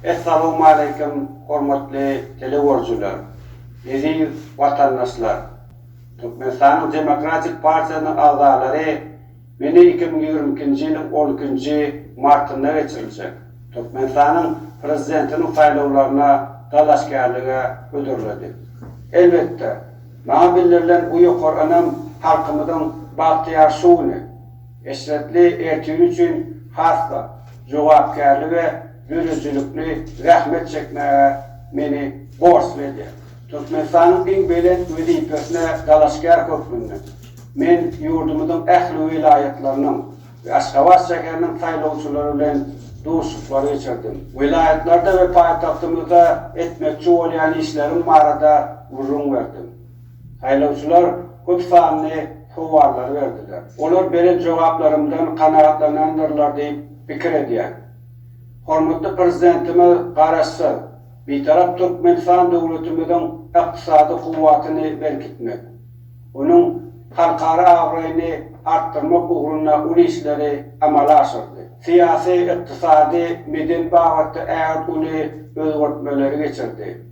Essalamualeýkum hormatly telegörüjiler, eziz watandaşlar, Türkmenistanyň Demokratik partiýasynyň agzalary meni iki müň ýigrimi ikinji ýylyň on ikinji martynda geçiriljek Türkmenistanyň Prezidentiniň saýlawlaryna dalaşgärlige hödürledi. Elbetde, maňa bildirilen bu ýokary ynam halkymyzyň bagtyýar şu güni, Eşretli ertiri üçin has-da jogapkärli we döredijilikli zähmet çekmäge meni borçly edýär. Türkmenistanyň iň belent wezipesine dalaşgär hökmünde, men ýurdumyzyň ähli welaýatlarynyň we Aşgabat şäheriniň saýlawçylary bilen duşuşyklar geçirdim. Welaýatlarda we paýtagtymyzda etmekçi bolýan işlerim barada gürrüň berdim. Saýlawçylar köp sanly sowallary berdiler. Olar beren jogaplarymdan kanagatlanandyrlar diýip pikir edýän. Hormatly Prezidentimiz Garaşsyz, Bitarap Türkmenistan döwletimiziň ykdysady kuwwatyny berkitmek, onuň halkara abraýyny artdyrmak ugrunda uly işleri amala aşyrdy. Syýasy, ykdysady, medeni babatda ägirt uly özgertmeleri geçirdi.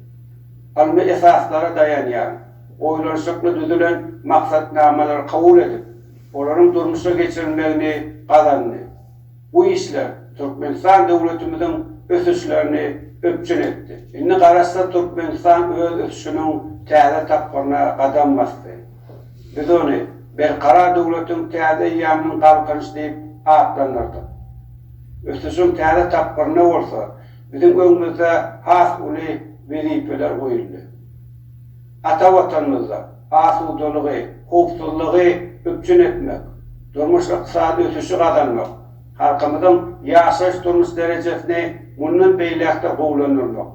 ylmy esaslara daýanýan, oýlanyşykly düzülen maksatnamalary kabul edip, olaryň durmuşa geçirilmegini gazandy. Bu işler Türkmenistan döwletimiziň ösüşlerini üpjün etdi. Indi Garaşsyz Türkmenistan öz ösüşiniň täze tapgyryna gadam basdy. Biz ony Berkarar döwletiň täze eýýamynyň Galkynyş diýip atlandyrdyk. Ösüşiň täze tapgyrynda bolsa, Biziň öňümizde has uly wezipeler goýuldy. Ata Watanymyzda asudalygy, howpsuzlygy üpjün etmek, durmuş-ykdysady ösüşi gazanmak, halkymyzyň ýaşaýyş-durmuş derejesini mundan beýläk-de gowulandyrmak,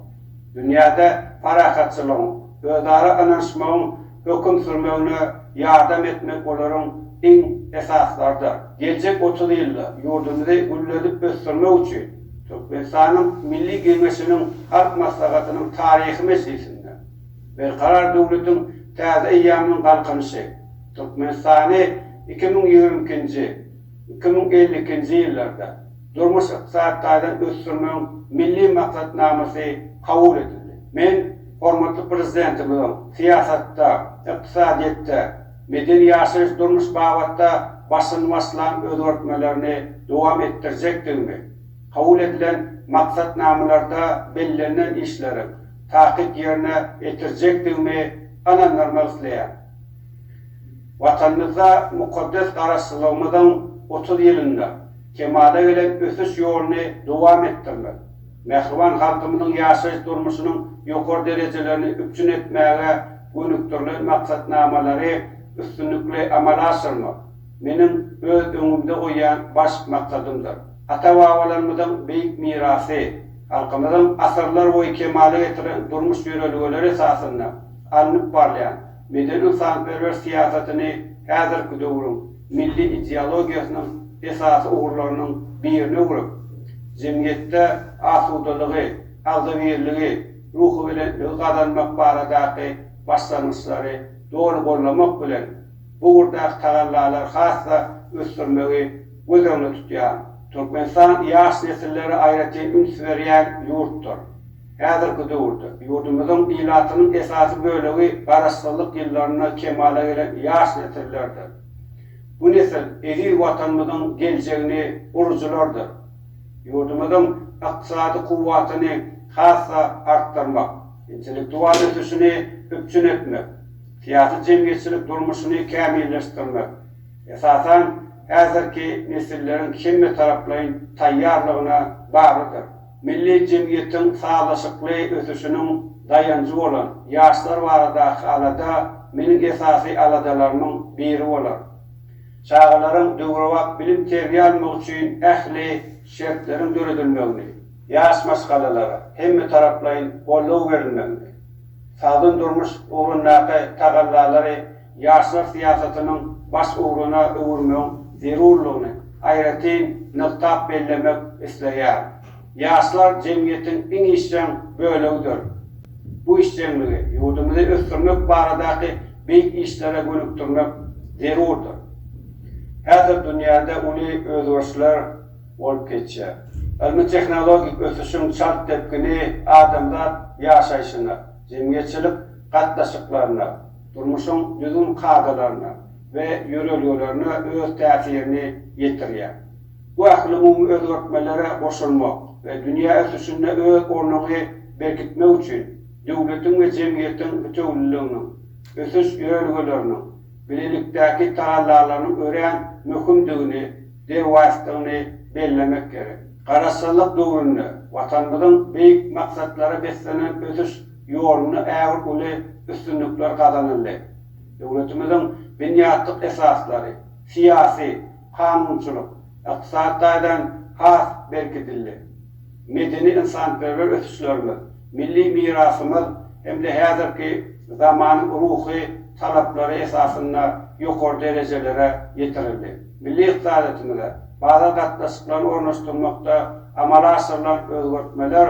dünýäde parahatçylygyň, özara ynanyşmagyň höküm sürmegine ýardam etmek olaryň iň esaslarydyr. Geljek otuz ýylda ýurdumyzy gülledip ösdürmek üçin Türkmenistanyň Milli Geňeşiniň Halk Maslahatynyň taryhy mejlisinde Berkarar döwletiň täze eýýamynyň Galkynyşy, Türkmenistany iki müň ýigrimi ikinji, iki müň elli ikinji ýyllarda, durmuş-ykdysady taýdan ösdürmegiň Milli maksatnamasy kabul edildi. Men hormatly Prezidentimiziň syýasatda, ykdysadyýetde, medeni-ýaşaýyş durmuş babatda başyny başlan özgertmelerini dowam etdirjekdigimi, kabul edilen maksatnamalarda bellenilen işleri takyk ýerine etirjekdigimi ynandyrmak isleýän. Watanymyzda mukaddes Garaşsyzlygymyzyň otuz ýylynda, kemala gelen ösüş ýoluny dowam etdirmek, mähriban halkymyzyň ýaşaýyş-durmuşynyň ýokary derejelerini üpjün etmäge gönükdirilen maksatnamalary üstünlikli amala aşyrmak meniň öz öňümde goýýan baş maksadymdyr. Ata-babalarymyzyň beýik mirasy, halkymyzyň asyrlar boýy kemala getiren durmuş ýörelgeleri esasynda alnyp barylýan, medeni-ynsanperwer syýasatyny häzirki döwrüň milli ideologiýasynyň esasy ugurlarynyň birine öwrüp, jemgyýetde asudalygy, agzybirligi, ruhubelentligi gazanmak baradaky başlangyçlary doly goldamak bilen, bu ugurdaky tagallalary has-da ösdürmegi göz öňünde tutýan, Türkmenistan ýaş nesillere aýratyn üns berýän ýurtdur. Häzirki döwürde ýurdumyzyň ilatynyň esasy bölegi Garaşsyzlyk ýyllarynda kemala gelen ýaş nesillerdir. Bu nesil eziz Watanymyzyň geljegini gurujylardyr. Ýurdumyzyň ykdysady kuwwatyny has-da artdyrmak, intellektual ösüşini üpjün etmek, syýasy-jemgyýetçilik durmuşyny kämilleşdirmek, esasan, häzirki nesilleriň hemmetaraplaýyn taýýarlygyna baglydyr. Milli jemgyýetiň sazlaşykly ösüşiniň daýanjy bolan ýaşlar baradaky alada meniň esasy aladalarymyň biri bolar. Çagalaryň döwrebap bilim-terbiýe almagy üçin ähli şertleriň döredilmegini, ýaş maşgalalara hemmetaraplaýyn goldaw berilmegini, sagdyn durmuş ugrundaky tagallalary ýaşlar syýasatynyň baş ugruna öwürmegiň zerurlygyny aýratyn nygtap bellemek isleýär. Ýaşlar jemgyýetiň iň işjeň bölegidir. Bu işjeňligi ýurdumyzy ösdürmek baradaky beýik işlere gönükdirmek zerurdyr. Häzir dünýäde uly özgerişler bolup geçýär. Ylmy-tehnologik ösüşiň çalt depgini adamzat ýaşaýşyna, jemgyýetçilik gatnaşyklaryna, durmuşyň düzgün kadalaryna we ýörelgelerine öz täsirini ýetirýär. Bu ählumumy özgertmelere goşulmak we dünýä ösüşinde öz ornuňy berkitmek üçin döwletiň we jemgyýetiň bitewüliliginiň, ösüş ýörelgeleriniň, bilelikdäki tagallalarynyň örän möhümdigini, derwaýysdygyny bellemek gerek. Garaşsyzlyk döwründe Watanymyzyň beýik maksatlara beslenen ösüş ýolunda ägirt uly üstünlikler gazanyldy. Döwletimiziň binýatlyk esaslary, syýasy, kanunçylyk, ykdysady taýdan has berkidildi. Medeni-ynsanperwer ösüşlerimiz, milli mirasymyz hem-de häzirki zamanyň ruhy talaplary esasynda ýokary derejelere ýetirildi. Milli ykdysadyýetimize bazar gatnaşyklaryny ornaşdyrmakda amala aşyrylan özgertmeler,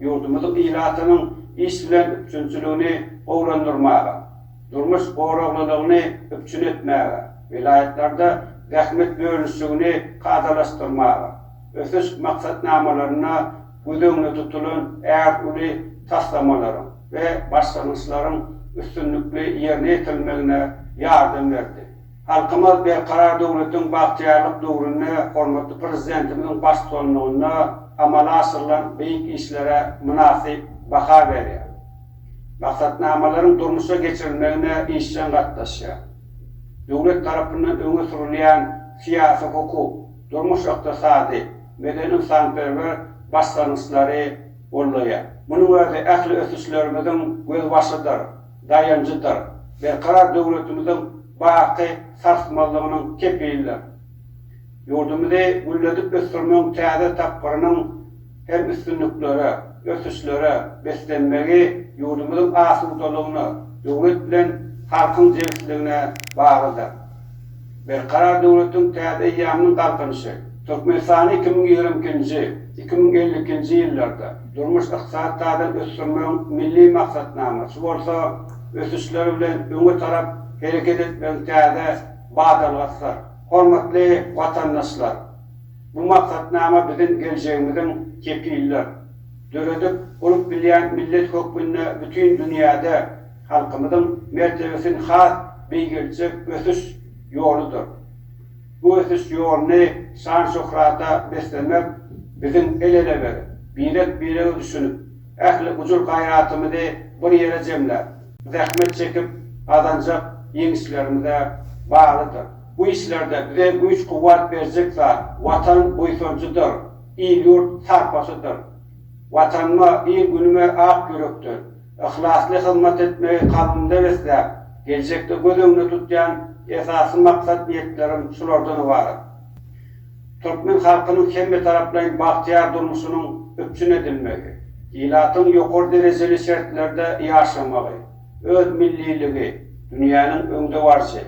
ýurdumyzyň ilatynyň iş bilen üpjünçiligini gowulandyrmaga, durmuş goraglylygyny üpjün etmäge, welaýatlarda zähmet bölüşigini kadalaşdyrmaga, ösüş maksatnamalarynda göz öňünde tutulan ärt uly taslamalaryň we başlangyçlaryň üstünlikli ýerine ýetirilmegine ýardam berdi. Halkymyz Berkarar döwletiň bagtyýarlyk döwründe hormatly Prezidentimiziň baştutanlygynda amala aşyrylan beýik işlere mynasyp baha berýär. Maksatnamalaryň durmuşa geçirilmegine işjeň gatnaşýar. Döwlet tarapyndan öňe sürülýän syýasy-hukuk, durmuş-ykdysady, medeni-ynsanperwer başlangyçlary goldaýar. Munuň özi ähli ösüşlerimiziň gözbaşydyr. daýanjydyr, berkarar döwletimiziň baky sarsmazlygynyň kepilidir. Ýurdumyzy gülledip ösdürmegiň täze tapgyrynyň hem üstünliklere, ösüşlere beslenmegi ýurdumyzyň asudalygyna, döwlet bilen halkyň jebisligine baglydyr. Berkarar döwletiň täze eýýamynyň Galkynyşy Türkmenistany iki müň ýigrimi ikinji, iki müň elli ikinji ýyllarda durmuş-ykdysady taýdan ösdürmegiň milli maksatnamasy bolsa ösüşler bilen öňe tarap hereket etmegiň täze badalgasydyr. Hormatly watandaşlar! Bu maksatnama biziň geljegimiziň kepildir. Döredip, gurup bilýän millet hökmünde bütin dünýäde, halkymyzyň mertebesini has beýgeldjek ösüş ýoludyr. Bu ösüş ýoluny şan-şöhrata beslemek biziň el-ele berip, birek-birege düşünip, ähli gujur-gaýratymyzy bir ýere jemläp, zähmet çekip gazanjak ýeňişlerimize baglydyr. Bu işlerde bize güýç-kuwwat berjek zat Watan buýsanjydyr, il-ýurt sarpasydyr. Watanyma, il-günüme ak ýürekden, Yhlasly hyzmat etmegi kalbymda besläp, geljekde göz öňünde tutýan esasy maksat-niýetlerim şulardan ybarat. Türkmen halkynyň hemmetaraplaýyn bagtyýar durmuşynyň üpjün edilmegi, ilatyň ýokary derejeli şertlerde ýaşamagy, öz milliligi, dünýäniň öňdebaryjy,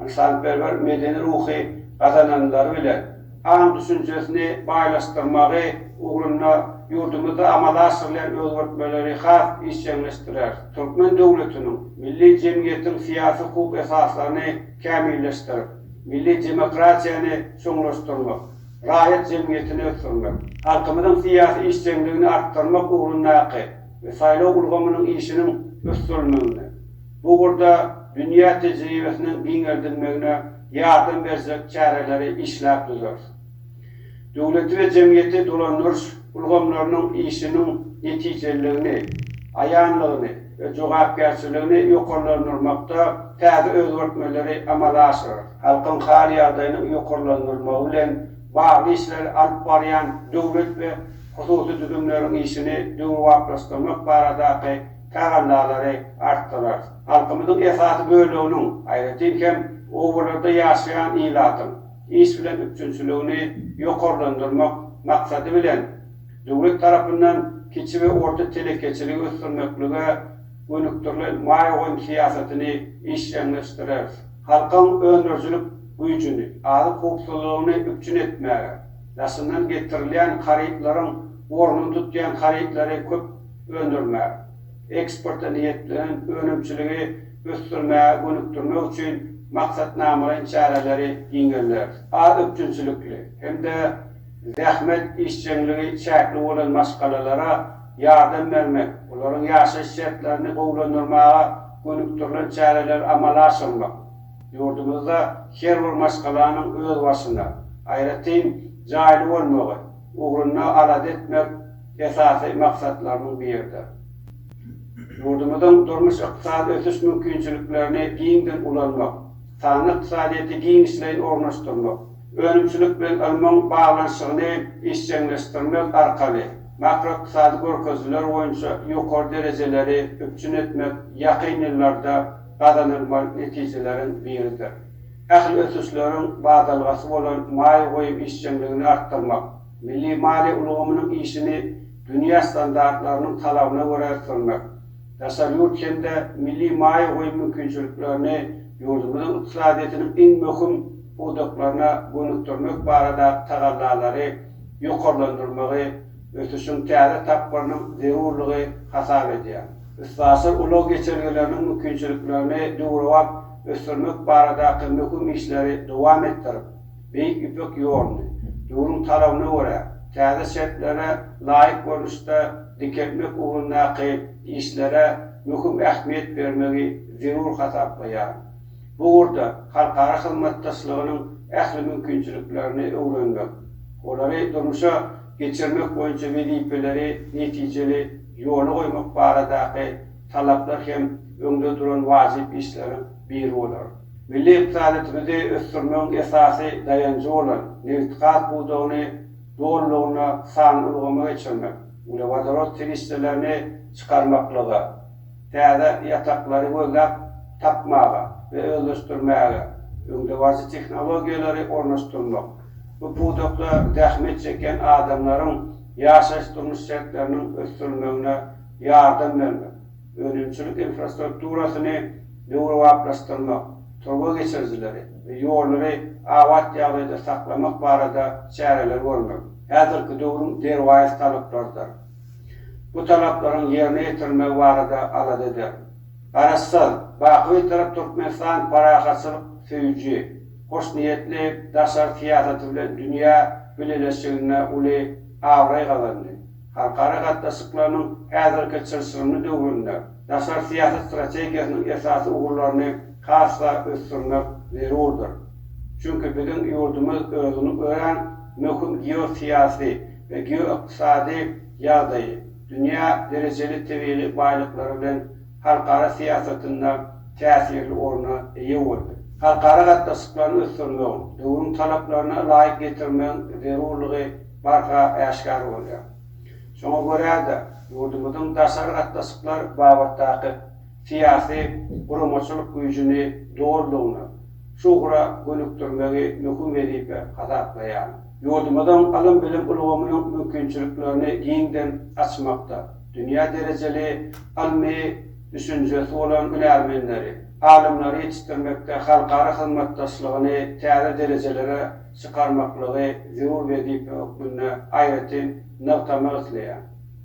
ynsanperwer medeni ruhy gazananlary bilen, aň-düşünjesini baýlaşdyrmagy ugrunda ýurdumyzda amala aşyrylýan özgertmeleri has işjeňleşdirer, türkmen döwletiniň, milli jemgyýetiň syýasy-hukuk esaslaryny kämilleşdirip, milli demokratiýany çuňlaşdyrmak, raýat jemgyýetini ösdürmek, halkymyzyň syýasy işjeňligini artdyrmak ugrundaky we saýlaw ulgamynyň işiniň ösdürilmegine, bu ugurda dünýä tejribesiniň giňeldilmegine ýardam berjek çäreleri işläp düzer. Döwleti we jemgyýeti dolandyryş ulgamlarynyň işiniň netijeliligini, aýanlygyny we jogapkärçiligini ýokarlandyrmakda täze özgertmeleri amala aşyrar. Halkyň hal-ýagdaýynyň ýokarlandyrylmagy bilen bagly işleri alyp barýan döwlet we hususy düzümleriň işini döwrebaplaşdyrmak baradaky tagallalary artdyrarys. Halkymyzyň esasy böleginiň, aýratyn hem, obalarda ýaşaýan ilatyň iş bilen üpjünçiligini ýokarlandyrmak maksady bilen, döwlet tarapyndan kiçi we orta telekeçiligi ösdürmeklige gönükdirilen maýa goýum syýasatyny işjeňleşdireriz. Halkyň öndürijilik güýjüni, azyk howpsuzlygyny üpjün etmäge, daşyndan getirilýän harytlaryň ornuny tutýan harytlary köp öndürmek, eksporta niýetlenen önümçiligi ösdürmäge gönükdirmek üçin maksatnamalaýyn çäreleri giňelderis. Az üpjünçilikli hem-de zähmet işjeňligi çäkli bolan maşgalalara ýardam bermek, olaryň ýaşaýyş şertlerini gowulandyrmaga gönükdirilen çäreleri amala aşyrmak, ýurdumyzda her bir maşgalanyň özbaşyna, aýratyn, jaýly bolmagy, ugrunda alada etmek esasy maksatlarynyň biridir. Ýurdumyzyň durmuş-ykdysady ösüş mümkinçiliklerini giňden ulanmak, sanly ykdysadyýeti giňişleýin ornaşdyrmak, önümçilik bilen ylmyň baglanyşygyny işjeňleşdirmek arkaly makroykdysady görkezijiler boýunça ýokary derejeleri üpjün etmek ýakyn ýyllarda gazanylmaly netijeleriň biridir. Ähli ösüşleriň badalgasy bolan maýa goýum işjeňligini artdyrmak, milli maliýe ulgamynyň işini dünýä standartlarynyň talabyna görä ösdürmek, daşary ýurt hem-de milli maýa goýum mümkinçiliklerini ýurdumyzyň ykdysadyýetiniň iň möhüm pudaklaryna gönükdirmek barada tagallalary ýokarlandyrmagy ösüşiň täze tapgyrynyň zerurlygy hasap edýär. Üstaşyr ulag geçelgeleriniň mümkinçiliklerini döwrebap ösdürmek baradaky möhüm işleri dowam etdirip, Beýik Ýüpek ýoluny, döwrüň talabyna görä, täze şertlere laýyk görnüşde dikeltmek ugrundaky işlere möhüm ähmiýet bermegi zerur hasaplaýar. Bu ugurda halkara hyzmatdaşlygynyň ähli mümkinçiliklerini öwrenmek, olary durmuşa geçirmek boýunça wezipeleri netijeli ýola goýmak baradaky talaplar hem öňde duran wajyp işleriň biri bolar. Milli ykdysadymyzy ösdürmegiň esasy daýanjy bolan nebitgaz pudagyny dolulygyna sanly ulgama geçirmek, uglewodorod serişdelerini çykarmaklyga, Täze ýataklary gözläp tapmaga we özleşdirmäge öňdebaryjy tehnologiýalary ornaşdyrmak, bu pudakda zähmet çekýän adamlaryň ýaşaýyş-durmuş şertleriniň ösdürilmegine ýardam bermek, önümçilik infrastrukturasyny döwrebaplaşdyrmak, turba geçirijileri we ýollary abat ýagdaýda saklamak barada çäreleri görmek häzirki döwrüň derwaýys talaplarydyr. bu talaplaryň ýerine ýetirilmegi barada alada eder. Garaşsyz, baky Bitarap Türkmenistan parahatçylyk söýüji, hoşniýetli daşary syýasaty bilen dünýä bileleşiginde uly abraý gazandy. Halkara gatnaşyklarynyň häzirki çylşyrymly döwründe daşary syýasat strategiýasynyň esasy ugurlaryny has-da ösdürmek zerurdyr. Çünki biziň ýurdumyz özüni örän möhüm geosyýasy, we geoykdysady ýagdaýy, dünýä derejeli tebigy baýlyklary bilen halkara syýasatynda täsirli orna eýe boldy. Halkara gatnaşyklaryny ösdürmegiň, döwrüň talaplaryna laýyk getirmegiň zerurlygy barha äşgär bolýar. Şoňa görä-de, ýurdumyzyň daşary gatnaşyklar babatdaky syýasy, guramaçylyk güýjüni dolulygyna şu ugra gönükdirmegi möhüm wezipe hasaplaýaryn. Ýurdumyzyň ylym-bilim ulgamynyň mümkinçiliklerini giňden açmakda dünýä derejeli ylmy düşünjesi bolan hünärmenleri, alymlary ýetişdirmekde halkara hyzmatdaşlygyny täze derejelere çykarmaklygy zerur wezipe hökmünde aýratyn nygtamak isleýär.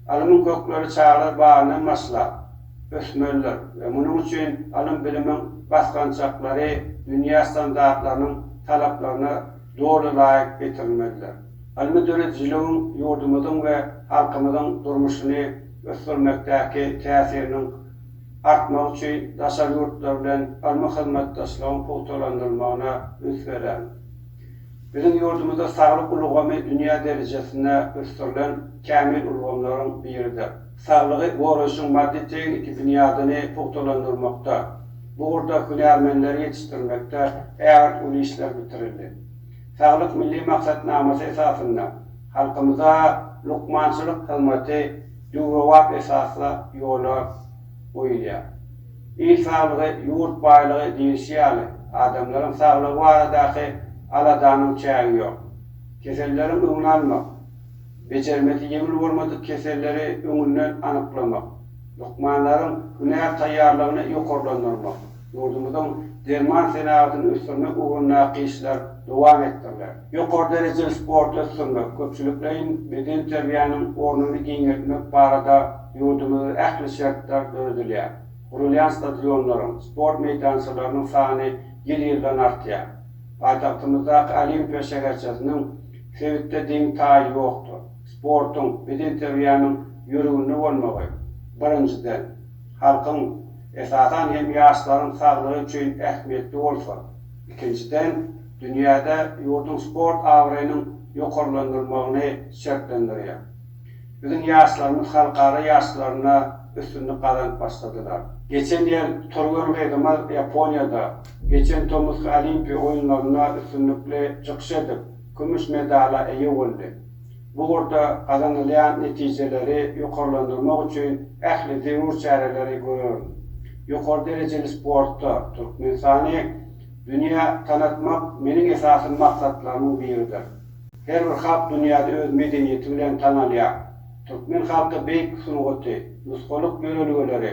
Alymyň kökleri çagalar bagyndan başlap, ösmelidir we munuň üçin ylym-bilimiň basgançaklary dünýä standartlarynyň talaplaryna doly laýyk getirilmelidir. Ylmy döredijiligiň ýurdumyzyň we halkymyzyň durmuşyny ösdürmekdäki täsiriniň artmagy üçin daşary ýurtlar bilen ylmy hyzmatdaşlygyň pugtalandyrylmagyna üns bereris. Biziň ýurdumyzda saglyk ulgamy dünýä derejesinde ösdürilen kämil ulgamlaryň biridir. Saglygy goraýşyň maddy-tehniki binýadyny pugtalandyrmakda, bu ugurda hünärmenleri ýetişdirmekde ägirt uly işler bitirildi. Saglyk Milli maksatnamasy esasynda halkymyza lukmançylyk hyzmaty döwrebap esasda ýola goýulýar. Il saglygy, ýurt baýlygy diýlişi ýaly, adamlaryň saglygy baradaky aladanyň çägi ýok. Keselleriň öňüni almak, Bejermesi ýeňil bolmadyk keselleri öňünden anyklamak, lukmanlaryň hünär taýýarlygyny ýokarlandyrmak, ýurdumyzyň derman senagatyny ösdürmek ugrundaky işler dowam etdiriler. Ýokary derejeli sporty ösdürmek, köpçülikleýin bedenterbiýäniň ornuny giňeltmek barada ýurdumyzda ähli şertler döredilýär. Gurulýan stadionlaryň, sport meýdançalarynyň sany ýyl-ýyldan artýar. Paýtagtymyzdaky Olimpiýa şäherçesiniň Sebitde deň-taýy ýokdur. Sportuň, bedenterbiýäniň ýörüginde bolmagy, birinjiden, halkyň, esasan hem ýaşlaryň saglygy üçin ähmiýetli bolsa, ikinjiden, dünýäde ýurduň sport abraýynyň ýokarlandyrylmagyny şertlendirýär. Biziň ýaşlarymyz halkara ýaryşlarynda üstünlik gazanyp başladylar. Geçen ýyl türgen gyzymyz Ýaponiýada geçen tomusky Olimpiýa oýunlarynda üstünlikli çykyş edip, kümüş medala eýe boldy. Bu ugurda gazanylýan netijeleri ýokarlandyrmak üçin ähli zerur çäreleri görerin. Ýokary derejeli sportda Türkmenistany dünýä tanatmak meniň esasy maksatlarymyň biridir. Her bir halk dünýäde öz medeniýeti bilen tanalýar. Türkmen halky beýik sungaty, nusgalyk ýörelgeleri,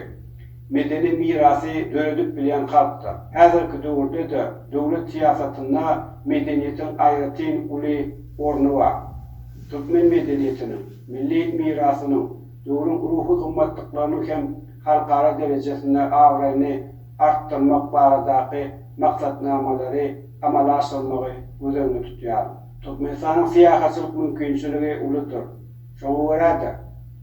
medeni mirasy döredip bilýän halkdyr. Häzirki döwürde-de döwlet syýasatynda medeniýetiň aýratyn uly orny bar. Türkmen medeniýetiniň, milli mirasynyň, döwrüň ruhy gymmatlyklarynyň hem halkara derejesinde abraýyny artdyrmak baradaky maksatnamalary amala aşyrmagy göz öňünde tutýar. Türkmenistanyň syýahatçylyk mümkinçiligi uludyr. Şoňa görä-de,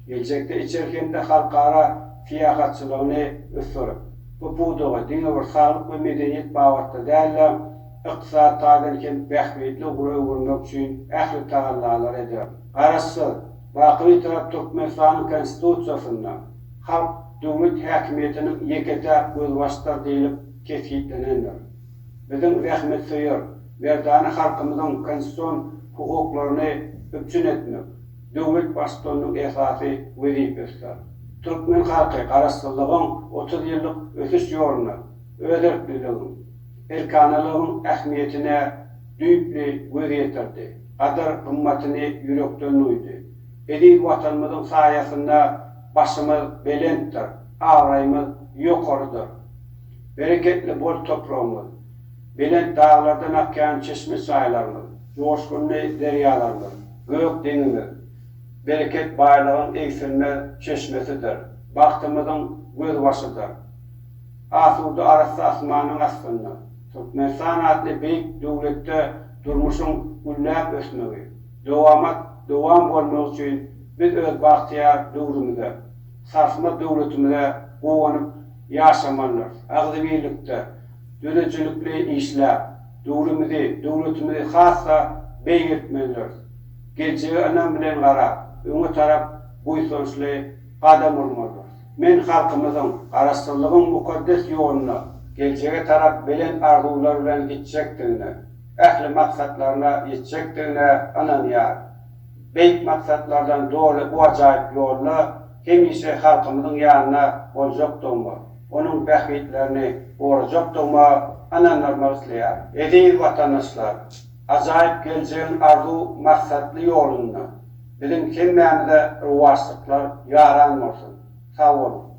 geljekde içeri hem-de halkara syýahatçylygyny ösdürip, bu pudagy diňe bir saglyk we medeniýet babatda däl-de, ykdysady taýdan hem bähbitli ugra öwürmek üçin ähli tagallalary ederin. Garaşsyz, baky Bitarap Türkmenistanyň Konstitusiýasynda halk döwlet häkimiýetiniň ýeke-täk gözbaşydyr diýlip kesgitlenendir. Biziň zähmetsöýer, Merdana halkymyzyň konstitusion hukuklaryny üpjün etmek döwlet Baştutanynyň esasy wezipesidir. Türkmen halky Garaşsyzlygyň otuz ýyllyk ösüş ýolunda özerkliligiň, erkanalygyň ähmiýetine düýpli göz ýetirdi, gadyr-gymmatyny ýürekden duýdy. Eziz Watanymyzyň saýasynda başymyz belentdir, abraýymyz ýokarydyr. Bereketli bol topragymyz! Belent daglardan akýan çeşme-çaýlarymyz, joşgunly derýalarymyz, gök deňimiz bereket, baýlygyň egsilmez çeşmesidir, bagtymyzyň gözbaşydyr. Asuda arassa asmanyň astynda Türkmenistan atly beýik döwletde durmuşyň gülläp ösmegi, dowamat dowam bolmagy üçin biz öz bagtyýar döwrümize, sarsmaz döwletimize guwanyp ýaşamalydyrys. Agzybirlikde. döredijilikli işläp, döwrümizi, döwletimizi has-da beýik etmelidiris. Geljege ynam bilen garap, öňe tarap buýsançly gadam urmalydyrys. Men halkymyzyň Garaşsyzlygyň mukaddes ýoluna, geljege tarap belent arzuwlar bilen gitjekdigine, ähli maksatlaryna ýetjekdigine ynanýaryn. Beýik maksatlardan doly bu ajaýyp ýolda hemişe halkymyzyň ýanynda boljakdygyma, onuň bähbitlerini gorajakdygyma ynandyrmak isleýärin. Eziz watandaşlar, ajaýyp geljegiň arzuw-maksatly ýolunda biziň hemmämize rowaçlyklar ýaran bolsun! Sag boluň!